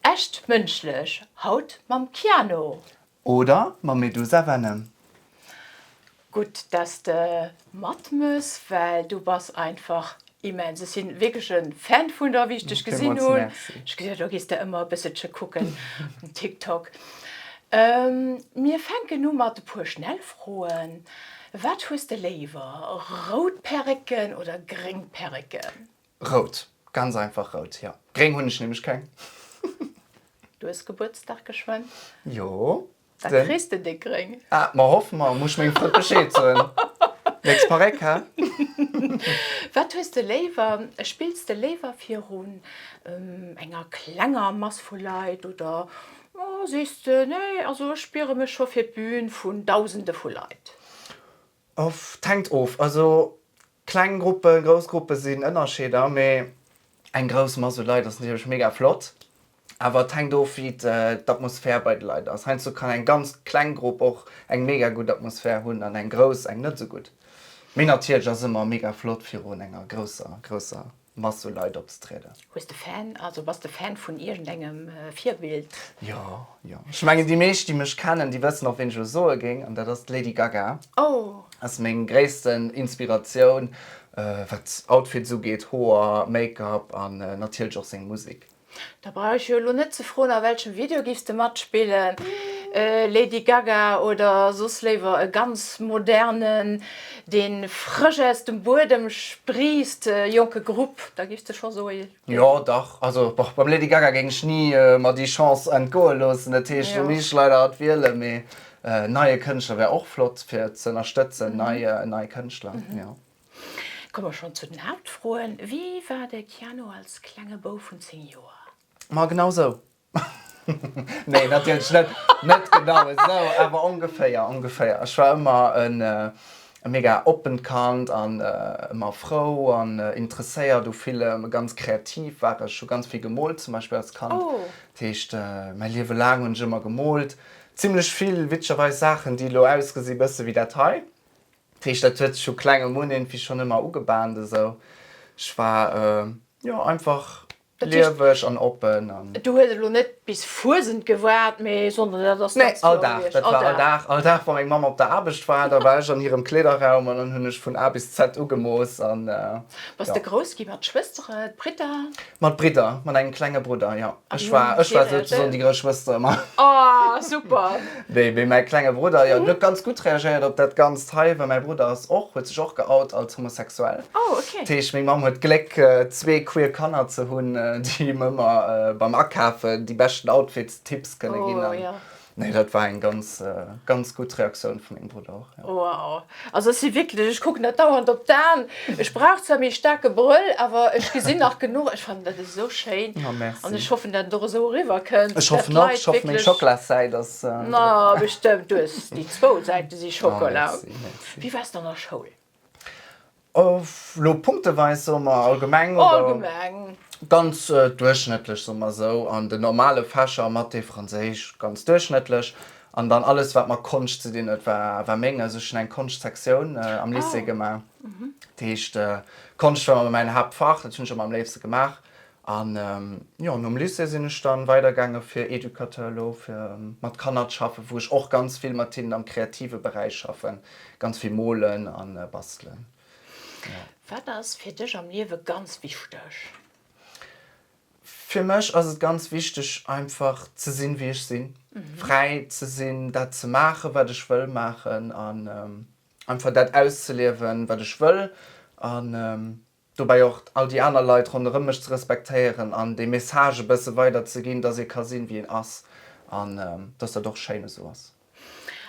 Echt mënschlech, haut mam Keanu. Oder mam Medusa Venom. Gutt dass de mat mëss, well du bass einfach immens. Ech sinn wierklech en Fan vun der, wéi ech dech gesinn hunn. Villmools Merci. Ech gesinn do gees de ëmmer e bësselche kucken um TikTok. Mir fänken u mat e puer Schnellfroen. Wat hues de léiwer, rout Perrëcken oder gréng Perrëcken? Rout. Ganz einfach rout, jo. Gréng hunn ech nämlech keng. Du hues Gebuertsdag geschwënn? Jo, den. Da kriss de déck gréng. Ah, ma hoff mer. Muss ech mengem Frënd Bescheed soen. Nächst Paréck, hä? Wat hues de léiwer? Spills de léiwer virun enger klenger Mass vu Leit oder sees de, Nee, also ech spiere mech scho fir d'Bün vun Dausende vu Leit? Pff, t'hänkt of. Also kleng Gruppen, grouss Gruppen sinn Ënnerscheeder, mee eng grouss Mass u Leit ass natierlech mega flott. Awer et hänkt of wéi d'Atmosphär bei de Leit ass. Heiansdo kann eng ganz kleng Grupp och eng mega gutt Atmosphär hunn an eng grouss eng net esou gutt. Mee natierlech ass ëmmer mega flott virun enger grousser, grousser Masseleit opzetrieden. Hues de Fan, also bass de Fan vun iergendengem Virbild? Jo, jo. Ech mengen, déi meescht, déi mech kennen, déi wëssen och, ween ech elo soe géing, an dat ass d'Lady Gaga. Oh! Ass meng gréissten Inspiratioun, wat Outfits ugeet, Hoer, Make-up an natierlech och seng Musek. Da brauch ech jo elo net ze froen, a welchem Video giffs de matspillen? Lady Gaga oder soss léiwer e ganz modernen, deen frësch aus dem Buedem spriisst, jonke Grupp? Da giffs de scho soe Lady. Jo, dach. Also boch, beim Lady Gaga géing ech ni mer déi Chance entgoe loossen. Dat heescht, do misst ech leider hatt wielen. Mee neie Kënschtler wär och flott fir ze ënnerstëtzen, nei Kënschtler, jo. Komme mer schonn zu den Haaptfroen. Wie war de Keanu als klenge Bou vun 10 Joer? Ma genau esou. Nee, natierlech net. Net genau esou, awer ongeféier, ongeféier. Ech war ëmmer e mega oppent Kand an ëmmer frou an interesséiert u villem. Ganz kreativ war ech, hu ganz vill gemoolt zum Beispill als Kand. Dat heescht, mäi Liewe laang hunn ech ëmmer gemoolt. Zimlech vill, witzegerweis, Saachen, déi elo ausgesi bësse wéi dat hei. Dat heescht, dat huet sech vu klengem un iergendwéi schonn ëmmer ugebahnt esou. Ech war, jo, einfach lieweg an oppen an. Du hues elo net bis Fuesent gewaart, mee Sonnde, dat ass ganz kloer gewiescht? Nee, all Dag, dat war all Dag. All Dag, wa meng Mamm op der Aarbecht war, da war ech an hirem Kleederraum an dann hunn ech vun A bis Z ugemooss an, jo. Bass de grouss gi mat Schwëstere, Bridder? Mat Bridder, mat engem klenge Brudder, jo. Ech war, ech war souzesoen déi grouss Schwëster ëmmer. Oh, super! Nee, mee mäi klenge Brudder, jo, deen huet ganz gutt reagéiert op dat Ganzt hei, well mäi Brudder ass och, huet sech och geout als homosexuell. Oh, okay. Dat heescht, meng Mamm huet d'Gléck, zwee queer Kanner ze hunn, déi him ëmmer beim Akafe déi beschten Outfits-Tipps kënne ginn. Oh, jo. Nee, dat war eng ganz, ganz gutt Reaktioun vu mengem Brudder och, jo. Wow. Also ech si wierklech, ech kucken dat dauernd op d'Aen. Ech brauch zwar méi staarke Brëll, awer ech gesinn nach genuch. Ech fannen dat esou schéin. Oh, merci. An ech hoffen, dat et och esou eriwwer kënnt. Ech hoffen och. Ech hoffen, meng Schocklasäit ass. Ma bestëmmt. Du hues déi zwou Säite si Schockela. Oh, merci, merci. Wéi waars de an der Schoul? Lo punkteweis soe mer allgemeng oder? Allgemeng. Ganz duerchschnëttlech soe mer esou. An den normale Fächer, Mathé, Franséisch, ganz duerchschnëttlech. An dann alles, wat mat Konscht ze dinn huet, war menges. Ech hunn eng Konschtsektioun am Lycée gemaach. Dat heescht, Konscht war mäin Haaptfach, dat hunn ech ëmmer am léifste gemaach. An jo, nom Lycée sinn ech dann weidergaange fir Educateur elo, fir mat Kanner z'schaffen, wou ech och ganz vill mat hinnen am kreative Beräich schaffen, ganz vill molen a bastelen. Wat ass fir dech am Liewe ganz wichteg? Fir mech ass et ganz wichteg einfach ze sinn wéi ech sinn, fräi ze sinn dat ze maachen wat ech wëll maachen an einfach dat auszeliewen wat ech wëll an Dobäi och all déi aner Leit ronderëm mech ze respektéieren an dee Message e bësse weiderzeginn, dass ee ka sinn, wéi een ass an dass dat och schéin esou ass.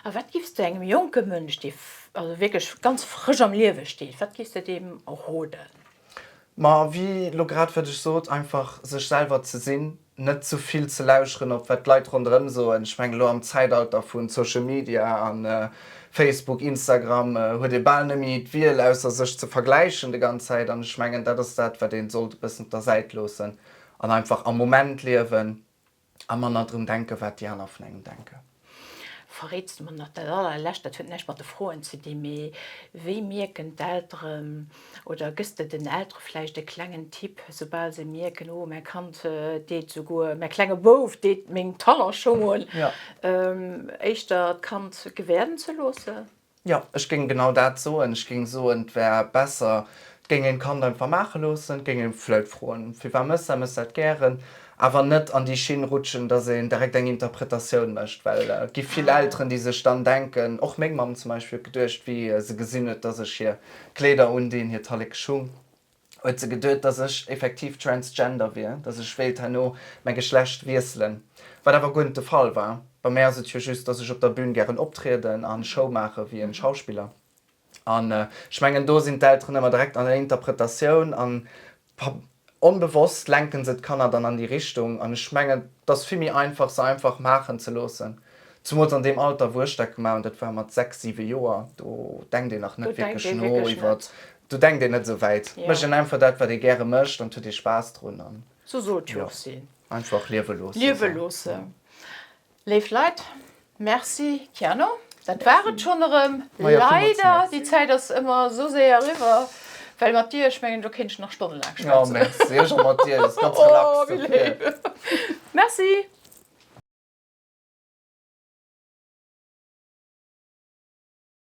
A wat giffs de engem jonke Mënsch, dee also wierklech ganz frësch am Liewe steet, wat giffs de deem roden? Ma wéi elo grad, wat ech sot, einfach sech selwer ze sinn, net ze vill ze lauschteren op wat d'Leit ronderëm soen. Ech mengen elo am Zäitalter vu Social Media a Facebook, Instagram huet ee bal net méi d'Wiel ausser sech ze vergläichen de ganz Zäit an ech mengen dat ass dat wat een sollt e bëssen op der Säit loossen an einfach am Moment liewen a manner drun denken wat déi aner vun engem denken. Verréits de mer nach dat allerlescht, dat huet näischt mat de Froen ze di, mee wéi mierken d'Elteren oder gëss de den Eltere vläicht e klengen Tipp, soubal se mierken, oh mäi Kand deet esouguer, mäi klenge Bouf deet meng Talonschong un, éischter d'Kand gewäerden ze loossen? Jo, ech géing genau dat soen. Ech géing soen, et wär besser, et géing een d'Kand einfach maache loossen, et géing ee vleit froen, firwat mëss dat, mëss dat gären, awer net an déi Schinn rutschen, dass een direkt eng Interpretatioun mécht, well et gi vill Elteren, déi sech dann denken, och meng Mamm zum Beispill huet geduecht, wéi se gesinn huet, dass ech hir Kleeder undinn, hiert Hallek geschung, huet se geduet, dass ech effektiv transgender wier, dass ech wéilt herno mäi Geschlecht wiesselen, wat awer guer net de Fall war. Bei mär ass et jo just, dass ech op der Bün gären optrieden a Show maache wéi e Schauspiller. An ech mengen, do sinn d'Elteren ëmmer direkt an der Interpretatioun an onbewosst lenken se d'Kanner dann an déi Richtung. An ech mengen, et ass vill méi einfach, se einfach maachen ze loossen, zumools an deem Alter, wou ech dat gemaach hunn, dat war mat sechs, siwe Joer, do denkt een nach net wierklech no iwwert Do denkt een net esou wäit. Mécht een einfach dat, wat ee gäre mécht an huet ee Spaass drun an. Sou sot jo och si. Einfach liewe loossen. Liewe loossen. Léif Leit, Merci Kiano. Dat war et schonn erëm. Leider, déi Zäit ass ëmmer esou séier eriwwer. Well mat dir, ech mengen, do kéint ech nach stonnelaang schwätzen. Jo, merci. Ech och mat dir. Dat ass ganz relax. Oh, wéi léif. Merci.